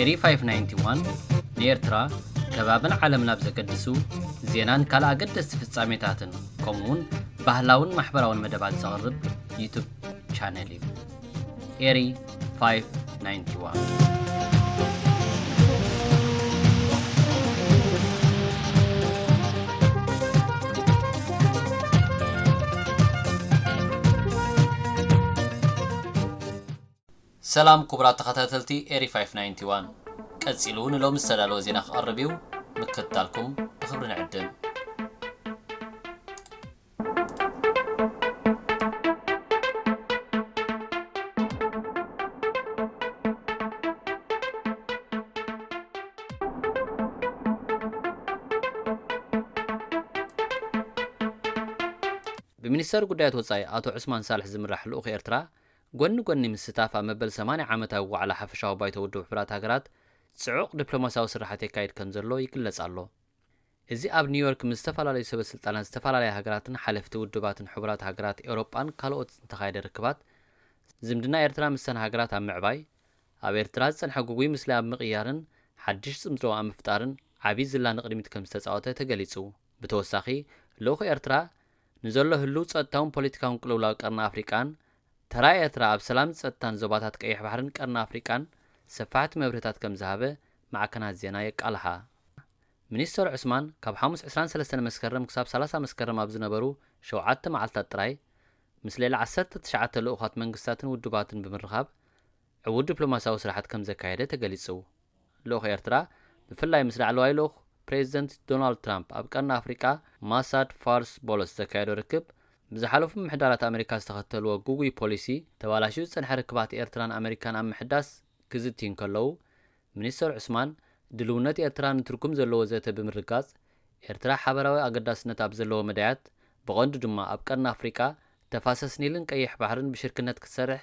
ኤሪ 591፣ ንኤርትራ፣ ከባብን ዓለምን ኣብ ዘገድሱ ዜናን ካልእ ኣገደስቲ ፍጻሜታትን ከምኡ'ውን ባህላውን ማሕበራውን መደባት ዘቕርብ ዩቱብ ቻነል እዩ። ኤሪ 591 ሰላም ኩቡራት ተኸታተልቲ ኤሪ ፋይፍ ናይንቲ ዋን ቀጺሉ ንሎሚ ዝተዳለወ ዜና ክቐርብ እዩ ምክትታልኩም ብኽብሪ ንዕድም። ብሚኒስተር ጉዳያት ወጻኢ ኣቶ ዑስማን ሳልሕ ዝምራሕ ልኡኽ ኤርትራ ጎኒ ጎኒ ምስታፍ ኣብ መበል ሰማንያ ዓመታዊ ዋዕላ ሓፈሻዊ ባይቶ ውድብ ሕቡራት ሃገራት ጽዑቕ ዲፕሎማስያዊ ስርሓት የካይድ ከምዘሎ ይግለጽ ኣሎ። እዚ ኣብ ኒውዮርክ ምስ ዝተፈላለዩ ሰበ ስልጣናት ዝተፈላለያ ሃገራትን ሓለፍቲ ውድባትን ሕቡራት ሃገራት ኤውሮጳን ካልኦት ዝተኻየደ ርክባት፣ ዝምድና ኤርትራ ምስተን ሃገራት ኣብ ምዕባይ፣ ኣብ ኤርትራ ዝጸንሐ ግጉይ ምስሊ ኣብ ምቕያርን ሓድሽ ጽምዶ ኣብ ምፍጣርን ዓቢ ዝላ ንቕድሚት ከምዝተጻወተ ተገሊጹ። ብተወሳኺ ልኡኽ ኤርትራ፣ ንዘሎ ህሉው ጸጥታውን ፖለቲካውን ቅልውላው ቀርኒ ኣፍሪቃን፣ ተራ ኤርትራ ኣብ ሰላምን ጸጥታን ዞባታት ቀይሕ ባሕርን ቀርኒ ኣፍሪቃን ሰፋሕቲ መብርህታት ከምዝሃበ ማዕከናት ዜና የቃልሓ። ሚኒስተር ዑስማን ካብ ሓሙስ ዕስራን ሰለስተን መስከረም ክሳብ ሰላሳ መስከረም ኣብ ዝነበሩ ሸውዓተ መዓልታት ጥራይ፣ ምስ ልዕሊ ዓሰርተ ትሽዓተ ልኡኻት መንግስታትን ውድባትን ብምርኻብ፣ ዕዉት ዲፕሎማስያዊ ስራሓት ከምዘካየደ ተገሊጹ። ልኡኽ ኤርትራ ብፍላይ ምስ ላዕለዋይ ልኡኽ ፕሬዚደንት ዶናልድ ትራምፕ ኣብ ቀርኒ ኣፍሪቃ ማሳድ ፋርስ ቦሎስ ዘካየዶ ርክብ ብዝሓለፉ ምምሕዳራት ኣመሪካ ዝተኸተልዎ ግጉይ ፖሊሲ ተባላሽዩ ዝጸንሐ ርክባት ኤርትራን ኣመሪካን ኣብ ምሕዳስ ክዝትዩ እንከለዉ ሚኒስተር ዑስማን ድልውነት ኤርትራ ንትርጉም ዘለዎ ዘተ ብምርግጋጽ ኤርትራ ሓበራዊ ኣገዳስነት ኣብ ዘለዎ መዳያት ብቐንዱ ድማ ኣብ ቀርኒ ኣፍሪቃ ተፋሰስ ኒልን ቀይሕ ባሕርን ብሽርክነት ክትሰርሕ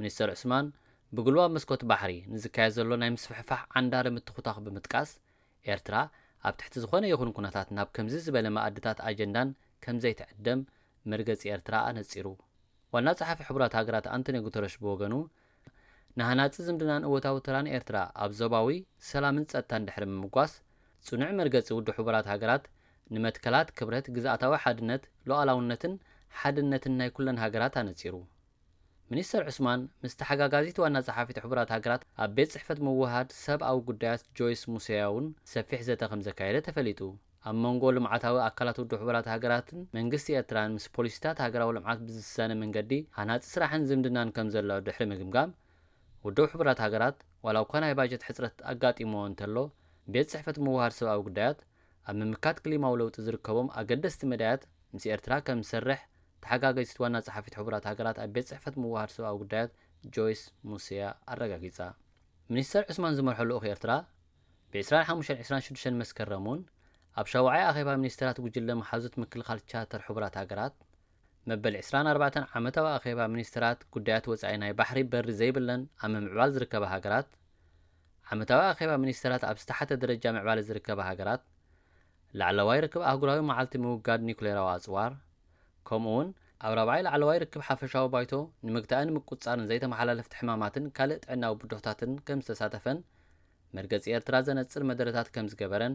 ሚኒስተር ዑስማን፣ ብጉልባብ መስኮት ባሕሪ ንዝካየድ ዘሎ ናይ ምስፍሕፋሕ ዓንዳሪ ምትኹታኹ ብምጥቃስ፣ ኤርትራ ኣብ ትሕቲ ዝኾነ ይኹን ኩነታት ናብ ከምዚ ዝበለ መኣድታት ኣጀንዳን ከምዘይትዕደም መርገጺ ኤርትራ ኣነጺሩ። ዋና ጸሓፊ ሕቡራት ሃገራት ኣንቶንዮ ጉተረሽ ብወገኑ፣ ንሃናጺ ዝምድናን እወታዊ ተራን ኤርትራ ኣብ ዞባዊ ሰላምን ጸጥታን ድሕሪ ምምጓስ፣ ጽኑዕ መርገጺ ውድብ ሕቡራት ሃገራት ንመትከላት ክብረት ግዝኣታዊ ሓድነት፣ ሉኣላውነትን ሓድነትን ናይ ኩለን ሃገራት ኣነጺሩ። ሚኒስተር ዑስማን ምስ ተሓጋጋዚት ዋና ጸሓፊት ሕቡራት ሃገራት ኣብ ቤት ጽሕፈት ምውህሃድ ሰብ ኣዊ ጉዳያት ጆይስ ሙሰያ'ውን ሰፊሕ ዘተ ከምዘካየደ ተፈሊጡ። ኣብ መንጎ ልምዓታዊ ኣካላት ውድብ ሕቡራት ሃገራትን መንግስቲ ኤርትራን ምስ ፖሊሲታት ሃገራዊ ልምዓት ብዝሳነ መንገዲ ሃናጺ ስራሕን ዝምድናን ከምዘሎ ድሕሪ ምግምጋም ውድብ ሕቡራት ሃገራት ዋላ'ኳ ናይ ባጀት ሕጽረት ኣጋጢምዎ እንተሎ ቤት ጽሕፈት ምውህሃድ ሰብኣዊ ጉዳያት ኣብ ምምካት ክሊማዊ ለውጢ ዝርከቦም ኣገደስቲ መዳያት ምስ ኤርትራ ከም ዝሰርሕ ተሓጋገዚት ዋና ጸሓፊት ሕቡራት ሃገራት ኣብ ቤት ጽሕፈት ምውህሃድ ሰብኣዊ ጉዳያት ጆይስ ሙስያ ኣረጋጊጻ። ሚኒስተር ዑስማን ዝመርሖ ልኡኽ ኤርትራ ብ ዕስራን ሓሙሽተን ዕስራን ሽዱሽተን መስከረም እውን ኣብ ሻውዓይ ኣኼባ ሚኒስተራት ጉጅለ መሓዙት ምክልኻል ቻርተር ሕቡራት ሃገራት መበል ዕስራን ኣርባዕተን ዓመታዊ ኣኼባ ሚኒስተራት ጉዳያት ወጻኢ ናይ ባሕሪ በሪ ዘይብለን ኣብ ምምዕባል ዝርከባ ሃገራት ዓመታዊ ኣኼባ ሚኒስተራት ኣብ ዝተሓተ ደረጃ ምዕባለ ዝርከባ ሃገራት፣ ላዕለዋይ ርክብ ኣህጉራዊ መዓልቲ ምውጋድ ኒዩክሌራዊ ኣጽዋር፣ ከምኡ'ውን ኣብ ራብዓይ ላዕለዋይ ርክብ ሓፈሻዊ ባይቶ ንምግታእን ምቁጽጻርን ዘይተመሓላለፍቲ ሕማማትን ካልእ ጥዕናዊ ብድሆታትን ከምዝተሳተፈን መርገጺ ኤርትራ ዘነጽር መደረታት ከምዝገበረን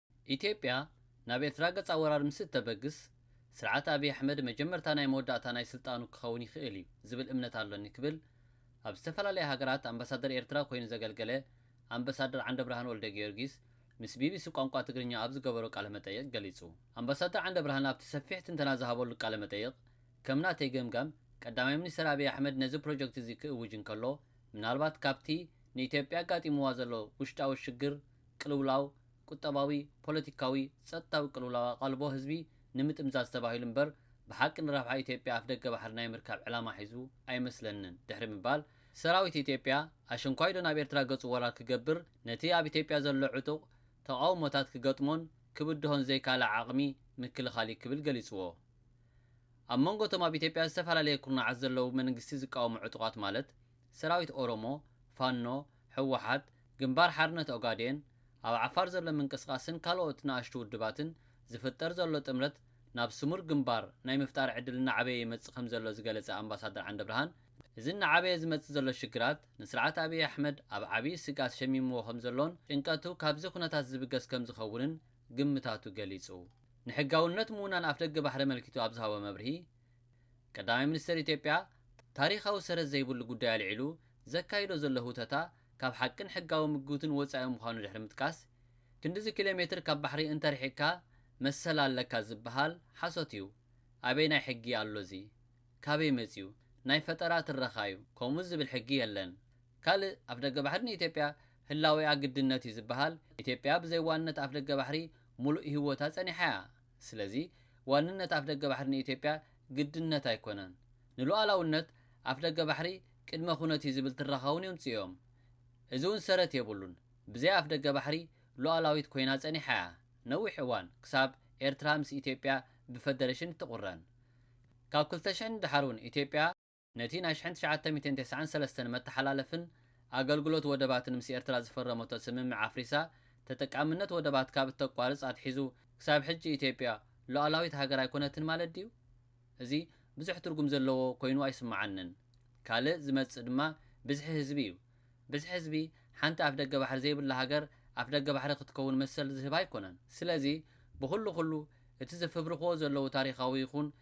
ኢትዮጵያ ናብ ኤርትራ ገጻ ወራር ምስ እተበግስ፣ ስርዓት ኣብይ ኣሕመድ መጀመርታ ናይ መወዳእታ ናይ ስልጣኑ ክኸውን ይኽእል እዩ ዝብል እምነት ኣሎኒ ክብል ኣብ ዝተፈላለያ ሃገራት ኣምባሳደር ኤርትራ ኮይኑ ዘገልገለ ኣምበሳደር ዓንደብርሃን ወልደጊዮርጊስ ምስ ቢቢሲ ቋንቋ ትግርኛ ኣብ ዝገበሮ ቃለመጠይቕ ገሊጹ። ኣምባሳደር ዓንደብርሃን ኣብቲ ሰፊሕ ትንተና ዝሃበሉ ቃለመጠይቕ፣ ከም ናተይ ገምጋም፣ ቀዳማይ ሚኒስተር ኣብይ ኣሕመድ ነዚ ፕሮጀክት'ዚ ክእውጅ እንከሎ፣ ምናልባት ካብቲ ንኢትዮጵያ ኣጋጢምዋ ዘሎ ውሽጣዊ ሽግር፣ ቅልውላው፣ ቁጠባዊ፣ ፖለቲካዊ፣ ጸጥታዊ ቅልውላው ኣቓልቦ ህዝቢ ንምጥምዛዝ ተባሂሉ እምበር ብሓቂ ንረብሓ ኢትዮጵያ ኣፍደገ ባሕሪ ናይ ምርካብ ዕላማ ሒዙ ኣይመስለንን ድሕሪ ምባል፣ ሰራዊት ኢትዮጵያ ኣሸንኳይዶ ናብ ኤርትራ ገጹ ወራር ክገብር ነቲ ኣብ ኢትዮጵያ ዘሎ ዕጡቕ ተቓውሞታት ክገጥሞን ክብድሆን ዘይካለ ዓቕሚ ምክልኻል እዩ ክብል ገሊጽዎ። ኣብ መንጎ እቶም ኣብ ኢትዮጵያ ዝተፈላለየ ኩርናዓት ዘለዉ መንግስቲ ዝቃወሙ ዕጡቓት ማለት፣ ሰራዊት ኦሮሞ፣ ፋኖ፣ ህወሓት፣ ግንባር ሓርነት ኦጋዴን፣ ኣብ ዓፋር ዘሎ ምንቅስቓስን ካልኦት ንኣሽቱ ውድባትን ዝፍጠር ዘሎ ጥምረት ናብ ስሙር ግንባር ናይ ምፍጣር ዕድል እናዓበየ ይመፅእ ከምዘሎ ዝገለፀ ኣምባሳደር ዓንደብርሃን እዚ እናዓበየ ዝመፅእ ዘሎ ሽግራት ንስርዓት ኣብይ ኣሕመድ ኣብ ዓብይ ስግኣት ሸሚምዎ ከምዘሎን ጭንቀቱ ካብዚ ኩነታት ዝብገስ ከምዝኸውንን ግምታቱ ገሊፁ። ንሕጋውነት ምውናን ኣፍደገ ባሕሪ ኣመልኪቱ ኣብ ዝሃቦ መብርሂ፣ ቀዳማይ ሚኒስተር ኢትዮጵያ ታሪኻዊ ሰረት ዘይብሉ ጉዳይ ኣልዒሉ ዘካይዶ ዘሎ ህውተታ ካብ ሓቅን ሕጋዊ ምጉትን ወጻኢ ምዃኑ ድሕሪ ምጥቃስ፣ ክንድዚ ኪሎ ሜትር ካብ ባሕሪ እንተርሒቕካ መሰል ኣለካ ዝበሃል ሓሶት እዩ፣ ኣበየናይ ሕጊ ኣሎ እዚ? ካበይ መጺኡ? ናይ ፈጠራ ትረኻ እዩ፣ ከምኡ ዝብል ሕጊ የለን። ካልእ ኣፍደገ ባሕሪ ንኢትዮጵያ ህላዌኣ ግድነት እዩ ዝበሃል፣ ኢትዮጵያ ብዘይ ዋንነት ኣፍደገ ባሕሪ ሙሉእ ሂወታ ጸኒሓ እያ። ስለዚ ዋንነት ኣፍደገ ባሕሪ ንኢትዮጵያ ግድነት ኣይኮነን። ንሉኣላውነት ኣፍደገ ባሕሪ ቅድመ ኩነት እዩ ዝብል ትረኻ እውን የምፅኡ'ዮም። እዚ እውን ሰረት የብሉን። ብዘይ ኣፍደገ ባሕሪ ሉኣላዊት ኮይና ፀኒሓ እያ ነዊሕ እዋን ክሳብ ኤርትራ ምስ ኢትዮጵያ ብፈደሬሽን እትቑረን። ካብ ክልተ ሽሕ ንደሓር እውን ኢትዮጵያ። ነቲ ናይ ሽሕን ትሽዓተ ሚእትን ተስዓን ሰለስተን መተሓላለፍን ኣገልግሎት ወደባትን ምስ ኤርትራ ዝፈረመቶ ስምምዕ ኣፍሪሳ ተጠቃምነት ወደባት ካብ እተቋርጽ ኣትሒዙ ክሳብ ሕጂ ኢትዮጵያ ሉኣላዊት ሃገር ኣይኮነትን ማለት ድዩ? እዚ ብዙሕ ትርጉም ዘለዎ ኮይኑ ኣይስመዓንን። ካልእ ዝመጽእ ድማ ብዝሒ ህዝቢ እዩ። ብዝሒ ህዝቢ ሓንቲ ኣፍደገ ባሕሪ ዘይብላ ሃገር ኣፍደገ ባሕሪ ክትከውን መሰል ዝህባ ኣይኮነን። ስለዚ ብኹሉ ኩሉ እቲ ዝፍብርኽዎ ዘለዉ ታሪኻዊ ይኹን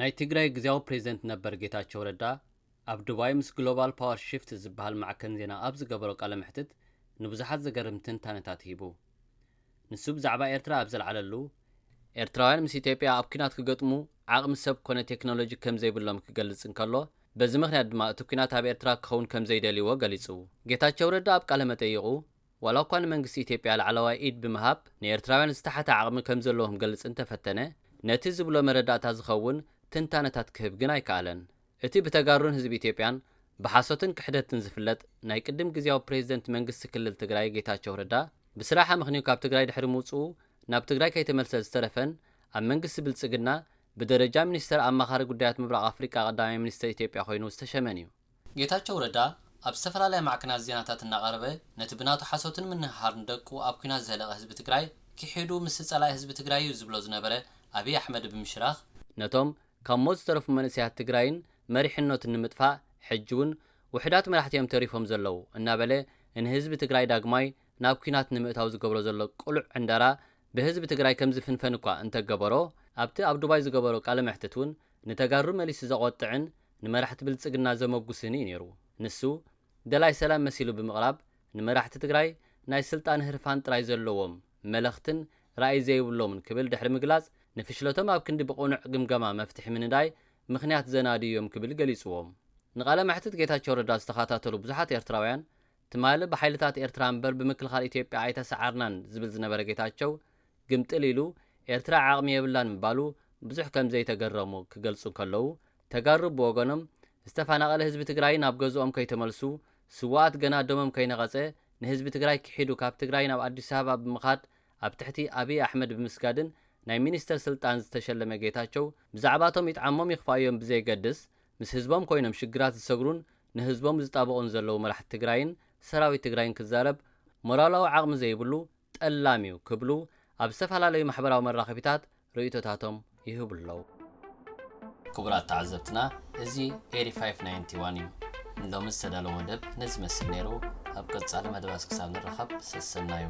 ናይ ትግራይ ግዜያዊ ፕሬዝደንት ነበር ጌታቸው ረዳ ኣብ ዱባይ ምስ ግሎባል ፓወር ሽፍት ዝበሃል ማዕከን ዜና ኣብ ዝገበሮ ቃለ መሕትት ንብዙሓት ዘገርም ትንታነታት ሂቡ። ንሱ ብዛዕባ ኤርትራ ኣብ ዘልዓለሉ፣ ኤርትራውያን ምስ ኢትዮጵያ ኣብ ኲናት ክገጥሙ ዓቕሚ ሰብ ኮነ ቴክኖሎጂ ከም ዘይብሎም ክገልጽ እንከሎ፣ በዚ ምኽንያት ድማ እቲ ኲናት ኣብ ኤርትራ ክኸውን ከም ዘይደልይዎ ገሊጹ። ጌታቸው ረዳ ኣብ ቃለ መጠይቑ፣ ዋላ'ኳ ንመንግስቲ ኢትዮጵያ ላዕለዋይ ኢድ ብምሃብ ንኤርትራውያን ዝተሓተ ዓቕሚ ከም ዘለዎ ክገልጽ እንተፈተነ፣ ነቲ ዝብሎ መረዳእታ ዝኸውን ትንታነታት ክህብ ግን ኣይከኣለን። እቲ ብተጋሩን ህዝቢ ኢትዮጵያን ብሓሶትን ክሕደትን ዝፍለጥ ናይ ቅድም ግዝያዊ ፕሬዝደንት መንግስቲ ክልል ትግራይ ጌታቸው ረዳ ብስራሕ ኣመኽንዩ ካብ ትግራይ ድሕሪ ምውፅኡ ናብ ትግራይ ከይተመልሰ ዝተረፈን ኣብ መንግስቲ ብልፅግና ብደረጃ ሚኒስተር ኣማኻሪ ጉዳያት ምብራቕ ኣፍሪቃ ቀዳማይ ሚኒስተር ኢትዮጵያ ኮይኑ ዝተሸመን እዩ። ጌታቸው ረዳ ኣብ ዝተፈላለያ ማዕከናት ዜናታት እናቐረበ ነቲ ብናቱ ሓሶትን ምንህሃርን ደቁ ኣብ ኲናት ዘህለቐ ህዝቢ ትግራይ ኪሒዱ ምስቲ ፀላኢ ህዝቢ ትግራይ እዩ ዝብሎ ዝነበረ ኣብይ ኣሕመድ ብምሽራኽ፣ ነቶም ካብ ሞት ዝተረፉ መንእሰያት ትግራይን መሪሕኖትን ንምጥፋእ ሕጂ ውን ውሕዳት መራሕቲ እዮም ተሪፎም ዘለዉ እናበለ ንህዝቢ ትግራይ ዳግማይ ናብ ኲናት ንምእታው ዝገብሮ ዘሎ ቅሉዕ ዕንደራ ብህዝቢ ትግራይ ከምዝፍንፈን እኳ እንተገበሮ ኣብቲ ኣብ ዱባይ ዝገበሮ ቃለ መሕትት ውን ንተጋሩ መሊሱ ዘቖጥዕን ንመራሕቲ ብልጽግና ዘመጉስን እዩ ነይሩ። ንሱ ደላይ ሰላም መሲሉ ብምቕራብ ንመራሕቲ ትግራይ ናይ ስልጣን ህርፋን ጥራይ ዘለዎም መለኽትን ራእይ ዘይብሎምን ክብል ድሕሪ ምግላጽ፣ ንፍሽለቶም ኣብ ክንዲ ብቕኑዕ ግምገማ መፍትሒ ምንዳይ፣ ምኽንያት ዘናድዩ እዮም ክብል ገሊጽዎም። ንቃለ መሕትት ጌታቸው ረዳ ዝተኻታተሉ ብዙሓት ኤርትራውያን፣ ትማሊ ብሓይልታት ኤርትራ እምበር ብምክልኻል ኢትዮጵያ ኣይተሰዓርናን ዝብል ዝነበረ ጌታቸው፣ ግምጥል ኢሉ ኤርትራ ዓቕሚ የብላን ምባሉ ብዙሕ ከምዘይተገረሙ ክገልጹ እንከለዉ፣ ተጋሩ ብወገኖም፣ ዝተፈናቐለ ህዝቢ ትግራይ ናብ ገዝኦም ከይተመልሱ፣ ስውኣት ገና ደሞም ከይነቐፀ ንህዝቢ ትግራይ ክሒዱ ካብ ትግራይ ናብ ኣዲስ ኣበባ ብምኻድ ኣብ ትሕቲ ኣብይ ኣሕመድ ብምስጋድን ናይ ሚኒስትር ስልጣን ዝተሸለመ ጌታቸው ብዛዕባቶም ይጥዓሞም ይኽፍኣዮም ብዘየገድስ ምስ ህዝቦም ኮይኖም ሽግራት ዝሰግሩን ንህዝቦም ዝጣበቑን ዘለዉ መራሕቲ ትግራይን ሰራዊት ትግራይን ክዛረብ ሞራላዊ ዓቕሚ ዘይብሉ ጠላም እዩ ክብሉ ኣብ ዝተፈላለዩ ማሕበራዊ መራኸቢታት ርእይቶታቶም ይህቡ ኣለዉ። ክቡራት ተዓዘብትና እዚ ኤሪ ፋይፍ ናይንቲ ዋን እዩ። ንሎሚ ዝተዳለወ መደብ ነዚ ይመስል ነይሩ። ኣብ ቀጻሊ መደባት ክሳብ ንራኸብ ሰሰናዩ።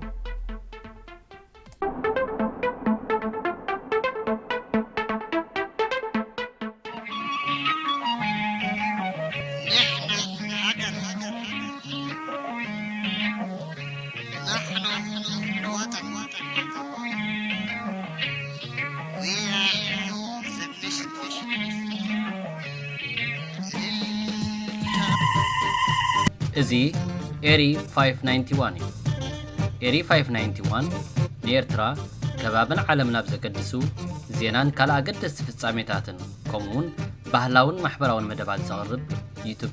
እዚ ኤሪ 591 እዩ። ኤሪ 591 ንኤርትራ ከባብን ዓለም ናብ ዘገድሱ ዜናን ካልእ ኣገደስቲ ፍጻሜታትን ከምኡውን ባህላውን ማሕበራውን መደባት ዘቕርብ ዩቱብ